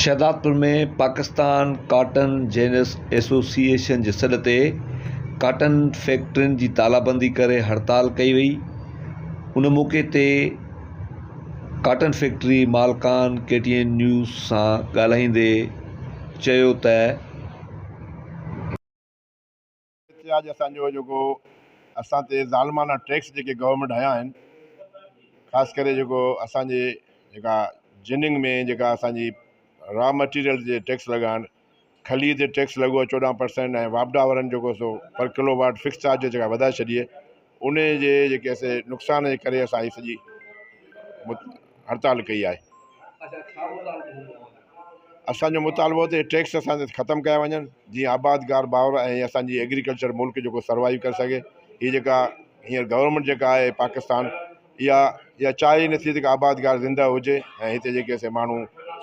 Shahdadpur ۾ Pakistan cotton ginners association جي سڏ تي ڪاٽن فيڪٽرين جي تالابندي ڪري هڙتال ڪئي وئي ان موقعي تي ڪاٽن فيڪٽري مالڪان ڪي ٽي اين نيوز سان ڳالهائيندي چيو ته هتي اڄ اسان جو جيڪو اسان تي ظالمانه ٽيڪس جيڪي گورنمينٽ هنيا آهن خاص ڪري جيڪو اسانجي جيڪا جننگ ۾ جيڪا اسانجي را مٽيريل جي ٽيڪس لڳائڻ کلي تي ٽيڪس لڳو چوڏهن پرسنٽ ۽ واپڊا وارن جيڪو سو per kilowatt fix charge جيڪا وڌائي ڇڏي انهي جي جيڪي سي نقصان جي ڪري اسان هي سڄي هڙتال ڪئي آهي. اسان جو مطالبو ته ٽيڪس اسان تي ختم ڪيا وڃن جي آبادگار باور ۽ اسان جي ايگريڪلچر ملڪ جيڪو سروائيو ڪري سگهي هي جيڪا هينئر گورنمينٽ جيڪا آهي پاڪستان اها اها چاهه ئي نه ٿي ته ڪا آبادگار زندهه هجي ۽ هتي جيڪي سي ماڻهو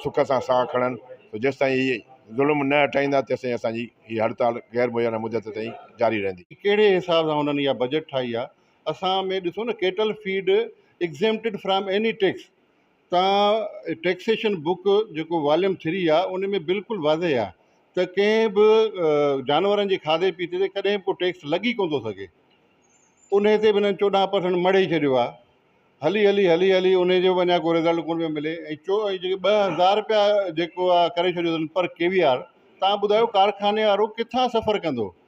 سک سان ساهه کڻن ته جيستائين هي ظلم نه هٽائيندا تيستائين اسان جي هي هڙتال غير معينه مدت تائين جاري رهندي. ڪهڙي حساب سان هنن اها بجيٽ ٺاهي آهي اسان ۾ ڏسو نه cattle feed exempted from any tax تان ٽيڪسيشن بوڪ جيڪو واليوم ٿري آ ان ۾ بلڪل واضح آ ته ڪنهن به جانورن جي کاڌي پيتي تي ڪڏهن به ڪو ٽيڪس لڳي ڪون ٿو سگهي انهي تي به انهن چوڏهن پرسنٽ مڙهي ڇڏيو آ هلي هلي هلي هلي انهي جو به اڃا ڪو رزلٽ ڪون پيو ملي ۽ چو ۽ جيڪي ٻه هزار رپيا جيڪو آ ڪري ڇڏيو اٿن پر ڪي وي آر تان ٻڌايو ڪارخاني وارو ڪٿان سفر ڪندو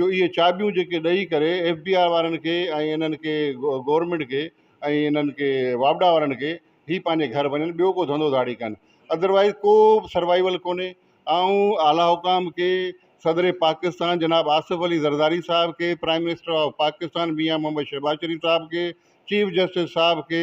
جو اهي چاٻيون جيڪي ڏئي ڪري ايف بي آر وارن کي ۽ انهن کي گورنمينٽ کي ۽ انهن کي واپڊا وارن کي هي پنهنجي گهر وڃن ٻيو ڪو ڌنڌو ڌاڙي ڪن ادروائز ڪو به سروائيول ڪونهي آئون اعليٰ حڪام کي صدر پاڪستان جناب آصف علي زرداري صاحب کي prime minister of Pakistan Mian Muhammad Shahbaz Sharif صاحب کي چيف جسٽس صاحب کي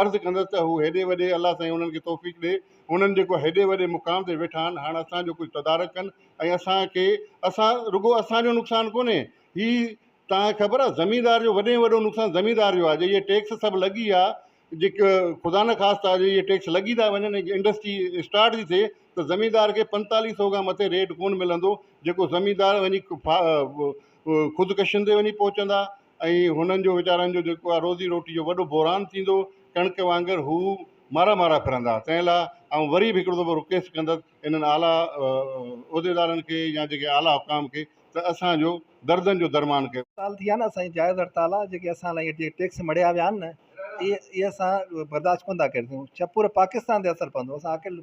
عرض ڪندس ته هو هيڏي وڏي الله سائين انهن کي توفيق ڏي انهن جيڪو هيڏي وڏي مقام تي ويٺا آهن هاڻ اسان جو ڪجهه تدارڪ ڪن ۽ اسان کي اسان رڳو اسان جو نقصان ڪونهي هي توهان کي خبر آهي زميندار جو وڏي ۾ وڏو نقصان زميندار جو آهي جي ٽيڪس سڀ لڳي ويا جيڪو خدا نه خاصتا جي اهي ٽيڪس لڳي ٿا وڃن ۽ انڊسٽري اسٽارٽ ٿي ٿئي ته زميندار کي پنتاليهه سئو کان مٿي ريٽ ڪونه ملندو جيڪو زميندار وڃي خودڪشين تي وڃي پهچندا ۽ هنن جو ويچارن جو جيڪو آهي روزي روٽي جو وڏو بحران ٿيندو، ڪڻڪ وانگر هو مارا مارا ڦرندا، تنهن لاء آئون وري به هڪڙو دفعو رڪويسٽ ڪندس انهن اعليٰ عهديدارن کي يا جيڪي اعليٰ حڪام کي ته اسان جو دردن جو درمان ڪيو. هڙتال ٿي آهي نه اسان جي جائز هڙتال آهي جيڪي اسان لاء جيڪي ٽيڪس مڙهيا ويا آهن نه اهي اهي اسان برداشت ڪونه ٿا ڪري سگهون ڇپور پاڪستان تي اثر پوندو اسان اڪيلو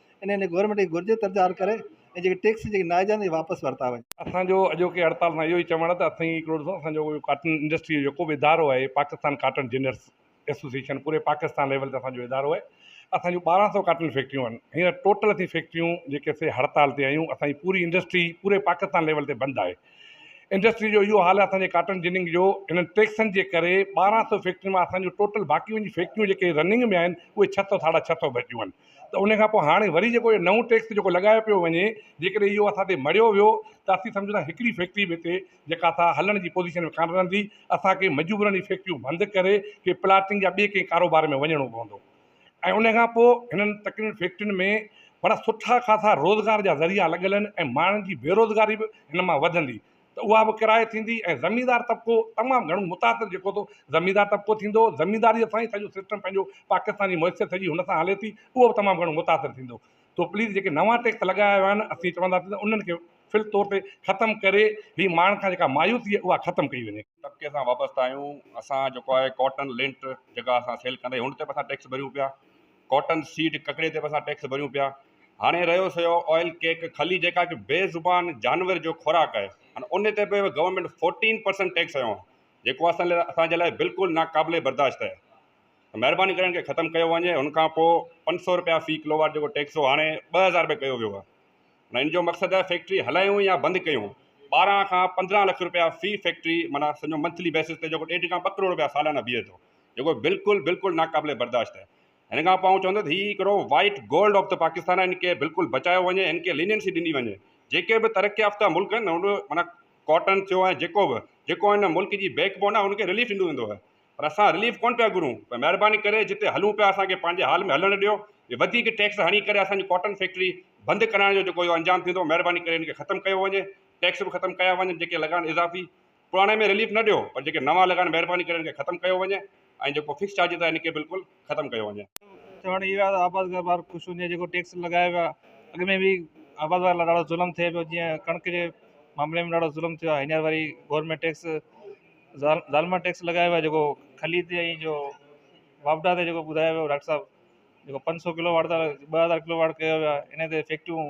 ان لاء گورنمينٽ کي گهرجي ته احتجاج ڪري ۽ جيڪي ٽيڪس جيڪي ناجائز آهن اهي واپس ورتا وڃن. اسان جو اڄوڪي هڙتال سان اهو ئي چوڻ آهي ته اٿيئي هڪڙو ڏسو اسان جو ڪاٽن انڊسٽري جو جيڪو به ادارو آهي پاڪستان ڪاٽن جنرس ايسوسيئيشن پوري پاڪستان ليول تي اسان جو ادارو آهي اسان جون ٻارهن سو ڪاٽن فيڪٽريون آهن هينئر ٽوٽل اسين فيڪٽريون جيڪي سي هڙتال تي آهيون اسان جي پوري انڊسٽري پوري پاڪستان ليول تي بند آهي انڊسٽري جو اهو حال آهي اسان جي ڪاٽن جننگ جو هنن ٽيڪسن جي ڪري ٻارهن سو فيڪٽرين مان اسان جون ٽوٽل باقي جون فيڪٽريون جيڪي رننگ ۾ آهن اهي ڇهه سو ساڍا ڇهه سو بچيون آهن ته ان کان پوء هاڻي وري جيڪو هي نئون ٽيڪس جيڪو لڳايو پيو وڃي جيڪڏهن اهو اسان تي مڙهيو ويو ته اسين سمجهون ٿا هڪڙي فيڪٽري به هتي جيڪا اٿا هلڻ جي پوزيشن ۾ ڪانه رهندي اسانکي مجبورن هي فيڪٽريون بند ڪري ڪي پلاٽنگ يا ٻي ڪنهن ڪاروبار ۾ وڃڻو پوندو ۽ ان کان پوء هنن تڪڙين فيڪٽرين ۾ وڏا سٺا خاصا روزگار جا ذريعا لڳل آهن ۽ ماڻهن جي بيروزگاري به هن مان وڌندي ته اها به ڪرائي ٿيندي ۽ زميندار طبقو تمام گهڻو متاثر جيڪو ٿو زميندار طبقو ٿيندو هو زمينداريء سان ئي سڄو سسٽم پنهنجو پاڪستاني معيشت سڄي هن سان هلي ٿي اهو به تمام گهڻو متاثر ٿيندو تو پليز جيڪي نوان ٽيڪس لڳايا ويا آهن اسين چونداسين ته انهن کي فل طور تي ختم ڪري هي ماڻهن کان جيڪا مايوسي اها ختم ڪئي وڃي. طبقي سان وابسته آهيون اسان جيڪو آهي ڪاٽن لنٽ جيڪا اسان سيل ڪندا آهيون هن تي به اسان ٽيڪس ڀريون پيا ڪاٽن سيڊ ڪڪڙي تي به اسان ٽيڪس ڀريون پيا هاڻي رهيو سهيو آئل ڪيڪ کلي جيڪا هڪ بي زبان جانور جو خوراڪ آهي هاڻي ان تي به گورنمينٽ فورٽين پرسنٽ ٽيڪس هنيو آهي جيڪو اسان لاء اسان جي لاء بلڪل ناقابل برداشت آهي ته مهرباني ڪري ان کي ختم ڪيو وڃي هن کان پوء پنج سو روپيا في ڪلو واٽ جيڪو ٽيڪس هو هاڻي ٻه هزار روپيا ڪيو ويو آهي هن جو مقصد آهي فيڪٽري هلايون يا بند ڪيون ٻارهن کان پندرهن لک روپيا في فيڪٽري معنيٰ سمجهو منٿلي بيسز تي جيڪو ڏيڍ کان ٻه ڪروڙ روپيا سالانه بيهي ٿو جيڪو بلڪل بلڪل ناقابل برداشت آهي هن کان پوء آئون چوندس ته هي هڪڙو white gold of the Pakistan آهي هن کي بلڪل بچايو وڃي هن کي لينينسي ڏني وڃي جيڪي به ترقي يافته ملڪ آهن هن معنيٰ ڪاٽن ٿيو ۽ جيڪو به جيڪو هن ملڪ جي بيڪ بون آهي هن کي رليف ڏنو ويندو آهي پر اسان رليف ڪونه پيا گهرون پر مهرباني ڪري جتي هلون پيا اسانکي پنهنجي حال ۾ هلڻ ڏيو هي وڌيڪ ٽيڪس هڻي ڪري اسانجي ڪاٽن فيڪٽري بند ڪرائڻ جو جيڪو اهو انجام ٿيندو مهرباني ڪري هن کي ختم ڪيو وڃي ٽيڪس به ختم ڪيا وڃن جيڪي لڳا آهن اضافي پراڻي ۾ رليف نه ڏيو پر جيڪي نوان لڳا آهن مهرباني ڪري ان کي ختم ڪيو وڃي ۽ جيڪو فڪس چارجز آهي ان کي بلڪل ختم ڪيو وڃي. چوڻ اهو آهي ته آباد گار بار خوش هجي جيڪو ٽيڪس لڳايو ويو آهي اڳ ۾ به آباد گار لاء ڏاڍو ظلم ٿئي پيو جيئن ڪڻڪ جي معاملي ۾ ڏاڍو ظلم ٿيو آهي هينئر وري گورنمينٽ ٽيڪس ظالمانه ٽيڪس لڳايو ويو آهي جيڪو کلي تي ۽ جو واپڊا تي جيڪو ٻڌايو ويو ڊاڪٽر صاحب جيڪو پنج سو ڪلو واٽ ٻه هزار ڪلو واٽ ڪيو ويو آهي ان تي فيڪٽريون